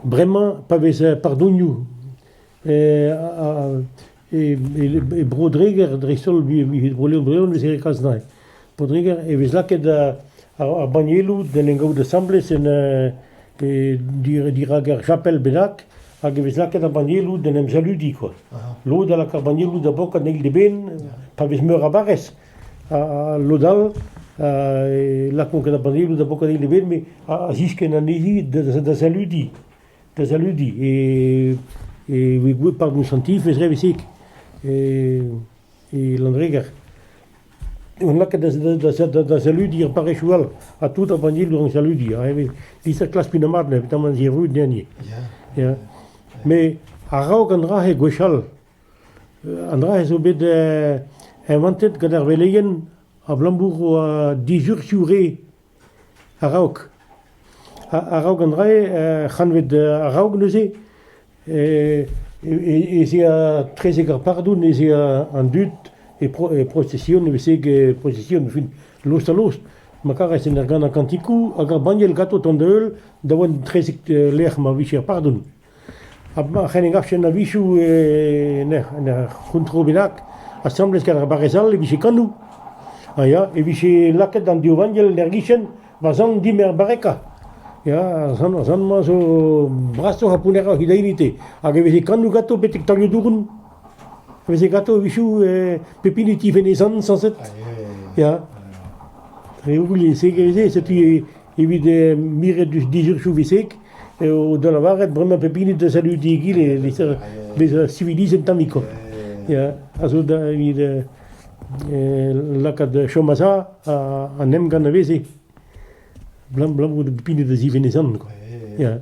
Bremañ, pa vez pardonioù e Bro-Dreger dreist-holl, Bro-Leon vez graet kalz dezhañ. Bro-Dreger e vez lakaet ar bannieloù d'en em gavout asambles en pe dirak ur chapel bennak hag e vez lakaet ar bannieloù d'en em saludiñ kwa. Lod a lak ar bannieloù da bokat en eil d'eben pa vez meur a barrez. Ha lod all e lakont ket ar bannieloù da bokat en eil d'eben met a ziskenn anezhi da saludiñ. Da saludiñ e vez gouet par boñsantif e zreveseg. E e Landreger. On lakaet da saludiñ ar parrezioù all ha tout ar bannieloù a saludiñ. Peseurt klas pinamat ne petamant erruet deni. Met a-raok an dra-se gwechall, an dra-se zo bet inventet gant ar veleien abalamour a dizurzhioù re A-raok. A-raok an dra-se, kantved a-raok neuze, ez ea etrezek ar pardoun ez ea an dud e prosesion evel-se prosesion e fin lost-ha-lost. Ma karez en ur ganañ kantikou hag ar banniel ganto tont-heul da vont etrezek lec'h ma vije ar pardoun. Amañ c'hen engavfen a-wechoù en ur en ur c'hontrol bennak, asambles gant ar barrez all e vije kanoù, ha ya, e vije lakaet an div vanniel en ur gichen va zant dimp er barrekañ, ya, ar zant ar zant-mañ zo brasoc'h ha pounneroc'h he daeroù-te, hag e veze kanoù ganto betek taolioù douron. Faezhe gatovichoù pep hini tu venezan sañset, ya. Reoù lise ivez, setu evit miret deus dizurioù visek eo da lavaret bremañ pep hini da saludiñ egile e-lec'h bezañ civilizet tammik koll, ya. A zo da evit lakaat chom a-za an emgann a veze, 'blam 'blam 'oa pep hini da zivenezan, ya.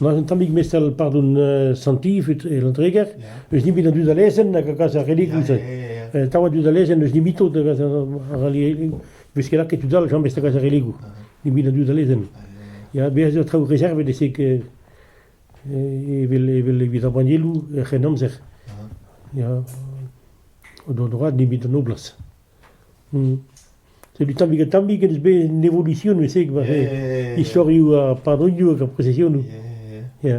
war un tammig mestr pardon uh, santifut e Landreger, eus ni bet an dud a lezenn hag a gas ar religoù-se. Uh, tav an dud a lezenn eus nimitot hag ar religoù. Beus ket lakaet tud all, Jean Best a gas ar religoù. Ni bet an dud a lezenn. Ya, bez eo traoù reservet esek evel evel evit ar bannieloù er c'henamzer. Ya, o do droad ni bet an noblas. Setu tammig-ha-tammig ez bez an evolusionioù-se war istorioù ar padronioù hag ar prezesionioù. Ya.